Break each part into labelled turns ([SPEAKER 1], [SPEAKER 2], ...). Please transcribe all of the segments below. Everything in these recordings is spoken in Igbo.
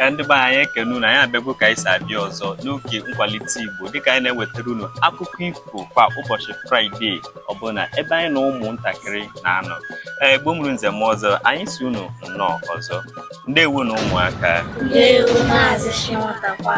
[SPEAKER 1] ee ndị be anyị anyị ekene unu anyị abịago ka anyị si abịa ọzọ n'oge nkwalite igbo dịka anyị na-ewetara unu akụkọ ifo kwa ụbọchị fraịde ọbụla ebe anyị na ụmụntakịrị na-anọ ee gbo mụrụ nze m ọzọ anyị si unu nnọọ ọzọ ndewonụ ụmụaka Ndewo Maazị Chinwata kwa.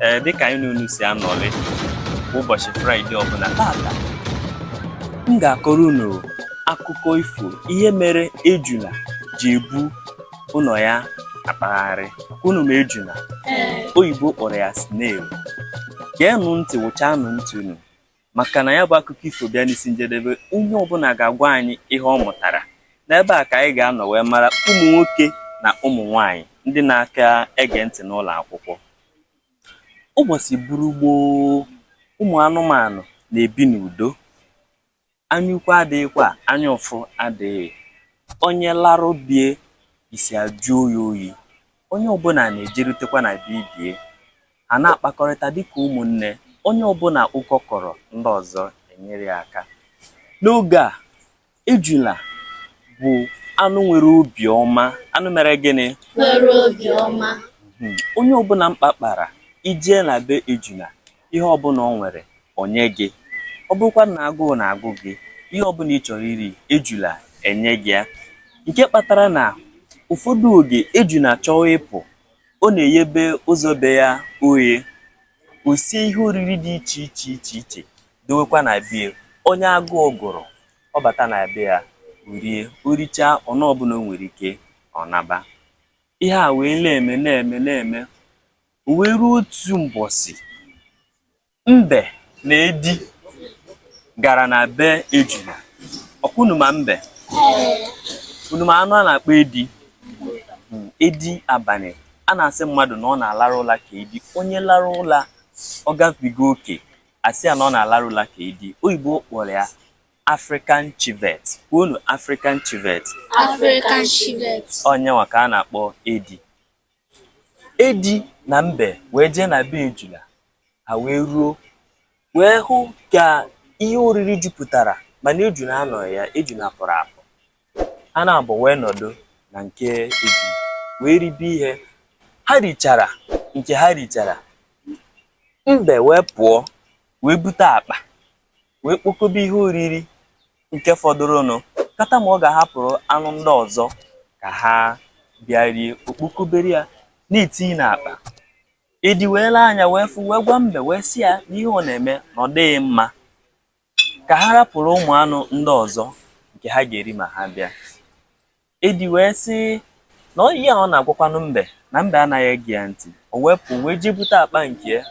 [SPEAKER 1] ee dịka anyị n'unu si anọrị ụbọchị fraịde ọbụla tata m ga-akọrọ unu akụkọ ifo ihe mere ejula ji ebu ụlọ ya akpagharị unu ma ejula oyibo kpọrọ ya snail geenụ ntị wụchaanụ ntị unu maka na ya bụ akụkọ ifo bịa n'isi njedebe onye ọbụla ga-agwa anyị ihe ọ mụtara n'ebe a ka anyị ga-anọ wee mara ụmụ nwoke na ụmụ nwanyị ndị na-aka ege ntị n'ụlọ akwụkwọ ụbọchị buru gboo ụmụ anụmanụ na-ebi n'udo anya ukwu adịghịkwa anya ụfụ adịghị onye laruo be ya isi ajụọ ya oyi Onye ọbụla na-ejerutekwa na be ibe ya, ha na-akpakọrịta dịka ụmụnne, onye ọbụla ụkọ kọrọ ndị ọzọ enyere ya aka. N'oge a, ejula bụ anụ nwere obi ọma, anụ mere gịnị? Nwere obi ọma. Hmm. Onye ọbụla mkpa kpara, i jee na be ejula, ihe ọbụla o nwere, o nye gị. Ọ bụrụkwanụ na agụụ na-agụ gị, ihe ọbụla ị chọrọ iri, ejula enye gị ya. Nke kpatara na ụfọdụ oge, ejula chọwa ịpụ, ọ na-eyebe ụzọ be ya oghe. O sie ihe oriri dị iche iche iche iche dowekwa na be ya. Onye agụụ gụrụ, ọ bata na be ya, o rie. O richaa, ọnụ ọbụla o nwere ike, ọ naba. Ihe a wee na-eme na-eme na-eme. O wee ruo otu mbọsị, mbe na edi gara na be ejula. Ọkwa unu ma mbe? Unu ma anụ a na-akpọ edi? Hmm, edi abalị a na-asị mmadụ na ọ na-alarụ ụla ka edi. Onye larụ ụla ọ gabiga oke a sị ya na ọ na-alarụ ụla ka edi. Oyibo kpọrọ ya African civet. Kwuonụ African civet. African civet. Ọ ya nwa ka a na-akpọ edi. Edi na mbe wee jee na be ejula, ha wee ruo wee hụ ka ihe oriri jupụtara mana ejula anọghị ya, ejula pụrụ apụ. Ha naabọ wee nọdụ na nke ejula wee ribe ihe. Ha richara nke ha richara, mbe wee pụọ wee bute akpa. wee kpokobe ihe oriri nke fọdụrụnụ, kata ma ọ ga-ahapụrụ anụ ndị ọzọ ka ha bịa rie. O kpokobere ya, na-etinye n'akpa. Edi wee lee anya wee fụ wee gwa mbe wee sị ya na ihe ọ na-eme na ọ dịghị mma, ka ha rapụrụ ụmụ anụ ndị ọzọ nke ha ga-eri ma ha bịa. Edi wee sị na ọ ihe a ọ na-agwakwanụ mbe na mbe anaghị ege ya ntị o wee pụ wee jee bute akpa nke ya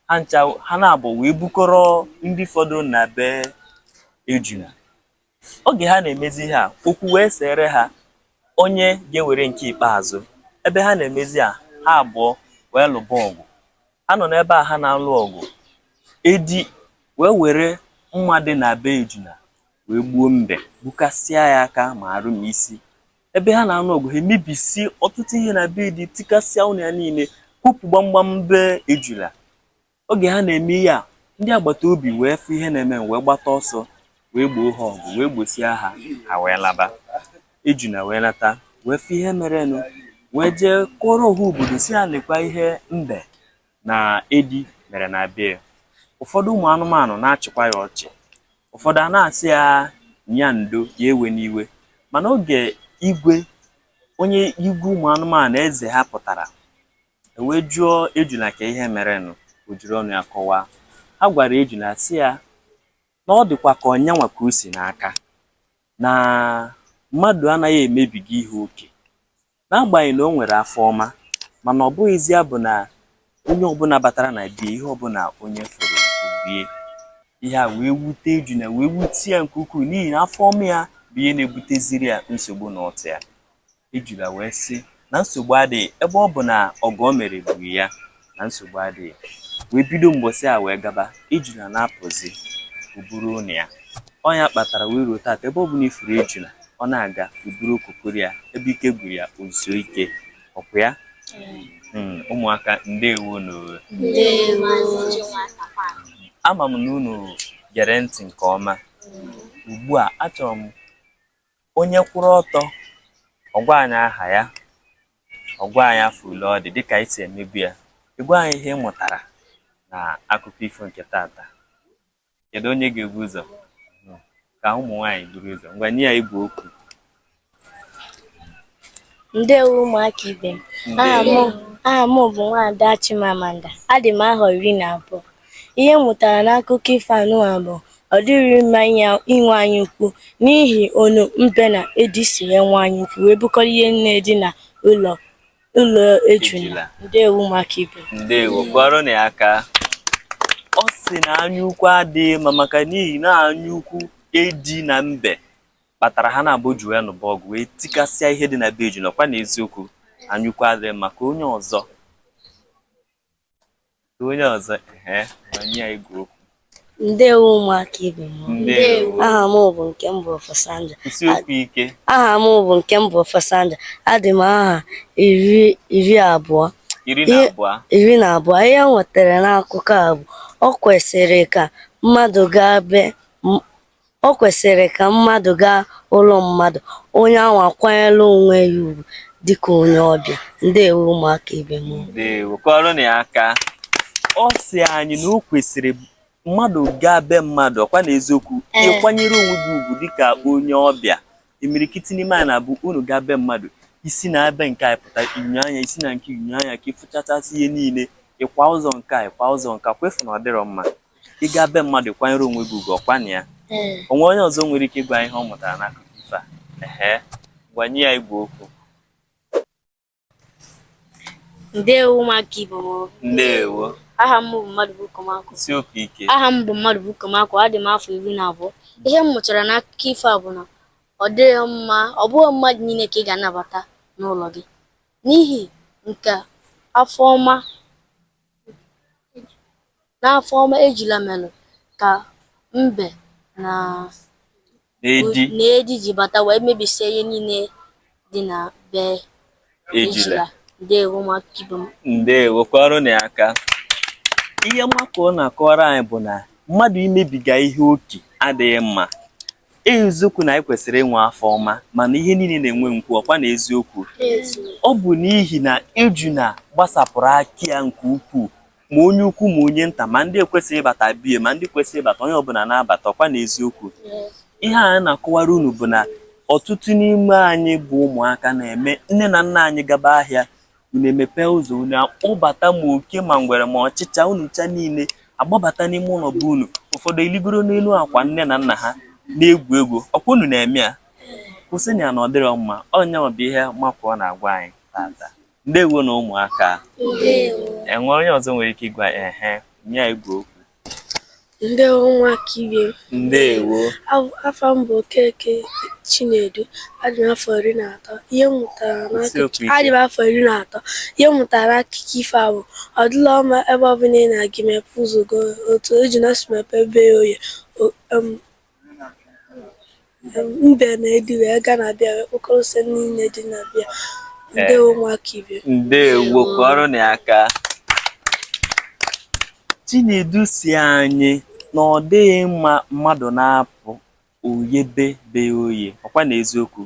[SPEAKER 1] ha ncha ha n'abụọ wee bukọrọ ndị fọdụrụ na be ejuna oge ha na-emezi ihe a okwu wee sere ha onye ga-ewere nke ikpeazụ ebe ha na-emezi a ha abụọ wee lụba ọgụ ha nọ n'ebe a ha na-alụ ọgụ edi wee were mma dị na be ejuna wee gbuo mbe gbukasịa ya aka ma arụ ma isi ebe ha na-anụ ọgụ ha emebisi ọtụtụ ihe na be edi tikasịa ụnọ ya niile kwopu gbamgbam be ejula oge ha na-eme ihe a ndị agbata obi wee fụ ihe na-eme wee gbata ọsọ wee gboo ha ọgụ wee gbosịa ha ha wee laba ejuna wee lata wee fụ ihe merenụ wee jee kọọrọ ọha obodo sị ha lekwa ihe mbe na edi mere na be ya ụfọdụ ụmụ anụmanụ na-achịkwa ya ọchị ụfọdụ a na-asị ya nya ndo ya ewena iwe mana oge igwe onye igwe ụmụ anụmanụ eze ha pụtara e wee jụọ ejula ka ihe merenụ o jiri ọnụ ya kọwaa ha gwara ejula sị ya na ọ dịkwa ka ọ nya nwa ka o si n'aka na mmadụ anaghị emebiga ihe oke N'agbanyeghị na o nwere afọ ọma, mana ọ bụghịzị ya bụ na onye ọbụla batara na be ya ihe ọbụla onye fụrụ o bie. Ihe a wee wute Ejuna wee wute ya nke ukwuu n'ihi na afọ ọma ya bụ ihe na-ebuteziri ya nsogbu na ụtụ ya. Ejula wee sị na nsogbu adịghị ebe ọ bụ na ọgọ o mere gburu ya. na nsogbu adịghị wee bido mgbọsị a wee gaba ejula na-apụzi o buru ụnọ ya ọ nya kpatara wee ruo taata ebe ọ bụla ị fụrụ ejula ọ na-aga o buru okokoro ya ebe ike gwụrụ ya o zuo ike ọkụ ya hmm, ụmụaka ndewo nụ o ama m na unu gere ntị nke ọma ugbu a achọrọ m onye kwụrụ ọtọ ọ gwa anyị aha ya ọ gwa anyị afọ ole ọ dị dịka anyị si emebu ya ị gwa anyị ihe ị mụtara na akụkọ ifo nke taata kedu onye ga-ebu ụzọ ka ụmụ nwaanyị buru ụzọ ngwa nye ya igwe okwu Ndewo ụmụaka ibe m. Aha m aha m bụ Nwaada Chimamanda. Adị m ahọ iri na abụọ. Ihe m mụtara n'akụkọ ifo nụwa bụ ọ dịghị mma inye inwe anya ukwu n'ihi onu mbe na edi si wee nwe anya ukwu wee bukọrọ ihe nine dị na ụlọ ụlọ ejula. Ejula. Ndewo ụmụaka ibe m. ndewo kụọrọnụ ya aka ọ sị na anyaukwu adịghị mma maka n'ihi na anyaukwu edi na mbe kpatara ha n'abụọ ji wee nụba ọgụ wee tikasịa ihe dị na be ejuna ọkwa na eziokwu anyaukwu adịrọ mma ka onye ọzọ ka onye ọzọ ee ngwa nye ya igwe okwu ndewo ụmụaka ibe m ndewo aha m bụ nke m bụ Ofosanja kwusie okwu ike aha m bụ nke m bụ Ofosanja adị m ahọ iri iri abụọ iri na Ihe- abụọ iri na abụọ ihe m nwetara n'akụkọ a bụ o kwesịrị ka mmadụ gaa be m- O kwesịrị ka mmadụ gaa ụlọ mmadụ, onye ahụ akwanyere onwe ya ugwu dịka onye ọbịa. Ndewo ụmụaka ibe m. Ndewo, kụọrọnụ ya aka. Ọ sị anyị na o kwesịrị mmadụ gaa be mmadụ ọkwa na eziokwu Ee. ị kwanyere onwe gị ugwu dịka onye ọbịa imirikiti n'ime anyị na-abụ unu gaa be mmadụ i si n'ebe nke a pụta i nyoo anya i si na nke a nyoo anya ka ị fụchachasịa ihe niile ị kwaa ụzọ nke a ị kwaa ụzọ nke a ọkwa ị fụ na ọ dịrọ mma ị gaa be mmadụ kwanyere onwe gị ugwu ọkwanụ ya o nwee onye ọzọ nwere ike ịgwa anyị ihe ọ mụtara n'akụkọ ife a ehe ngwa nye ya igwe okwu ndewo ụmụaka ibe m ndewo aha m bụ Mmadụbụkọ Makụọ kwusie okwu ike aha m bụ Mmadụbụkọ Makụọ adị m afọ iri na abụọ ihe m mụtara n'akụkọ ifo a bụ na ọ dịghị mma ọ bụghị mmadụ niile ka ị ga-anabata n'ụlọ gị n'ihi nke afọ ọma N'afọ ọma ejula mere ka mbe na edi ji bata wee mebisịa ihe niile dị na be ejula. Ndewo ụmụaka ibe m. Ndewo kụọrọnụ ya aka. Ihe Makụọ na-akọrọ anyị bụ na mmadụ imebiga ihe oke adịghị mma. Eziokwu na anyị kwesịrị inwe afọ ọma mana ihe niile na-enwe nkwu ọkwa na eziokwu ọ bụ n'ihi na ejuna gbasapụrụ aka ya nke ukwuu ma onye ukwu ma onye nta ma ndị ekwesịghị ịbata be ya ma ndị kwesịrị ịbata onye ọbụla na-abata ọkwa na eziokwu ihe a na-akọwara unu bụ na ọtụtụ n'ime anyị bụ ụmụaka na-eme nne na nna anyị gaba ahịa unu emepee ụzọ unu akpọbata ma oke ma ngwere ma ọchịcha unu ncha niile agbabata n'ime ụlọ be unu ụfọdụ eligoro n'elu akwa nne na nna ha na-egwu egwu ọkwa unu na-eme ya kwụsịnụ ya na ọ dịrọ mma ọ nya bụ ihe Makụọ na-agwa anyị tata ndewonụ ụmụaka e nwee onye ọzọ nwere ike ịgwa ehe nye ya igwe okwu ndewo ụmụaka ibe m ndewo afa m bụ Okeke Chinedu adị m afọ iri na atọ ihe m mụtara adị m afọ iri na atọ ihe m mụtara n'akụkọ ifo a bụ ọ dịrọ mma ebe ọbụla ị na-aga mepe ụzọ gị otu ejuna si mepe be ya oye mbe na edi wee gaa na be ya wee kpọkọrọ ose niile dị na be ya ndewo nwa ka ibe ndewo kụọrọnụ ya aka chinedu sị anyị na ọ dịghị mma mmadụ na-apụ o yebe be ya oye ọkwa na eziokwu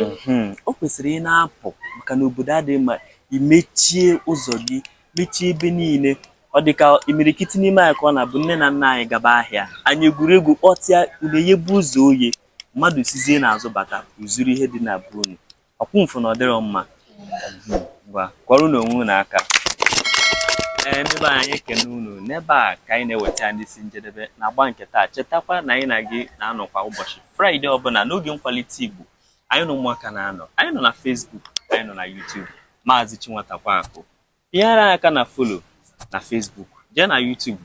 [SPEAKER 1] mhm. o kwesịrị ị na-apụ maka na obodo adịghị mma i mechie ụzọ gị mechie ebe niile ọ dị ka imirikiti n'ime anyị ka ọ na-abụ nne na nna anyị gaba ahịa anyị egwuregwu kpọtịa unu eyebe ụzọ oye mmadụ sizie n'azụ bata o zuru ihe dị na be unu ọkwa unu fụ na ọ dịrọ mma ngwa kụọrọnụ onwe unu aka ee ndị be anyị ekene unu n'ebe a ka anyị na-eweta n'isi njedebe na agba nke taa chetakwa na anyị na gị na-anọkwa ụbọchị fraịde ọbụla n'oge nkwalite igbo anyị na ụmụaka na-anọ anyị nọ na Facebook anyị nọ na YouTube Maazị Chinwatakwaakụ bịara anyị aka na follow na Facebook jee na YouTube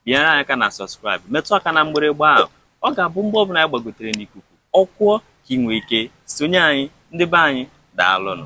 [SPEAKER 1] bịara anyị aka na subscribe metụ aka na mgbịrịgba ahụ ọ ga-abụ mgbe ọbụla anyị gbagotere n'ikuku ọ kụọ ka ị nwee ike sonye anyị ndị be anyị daalụnụ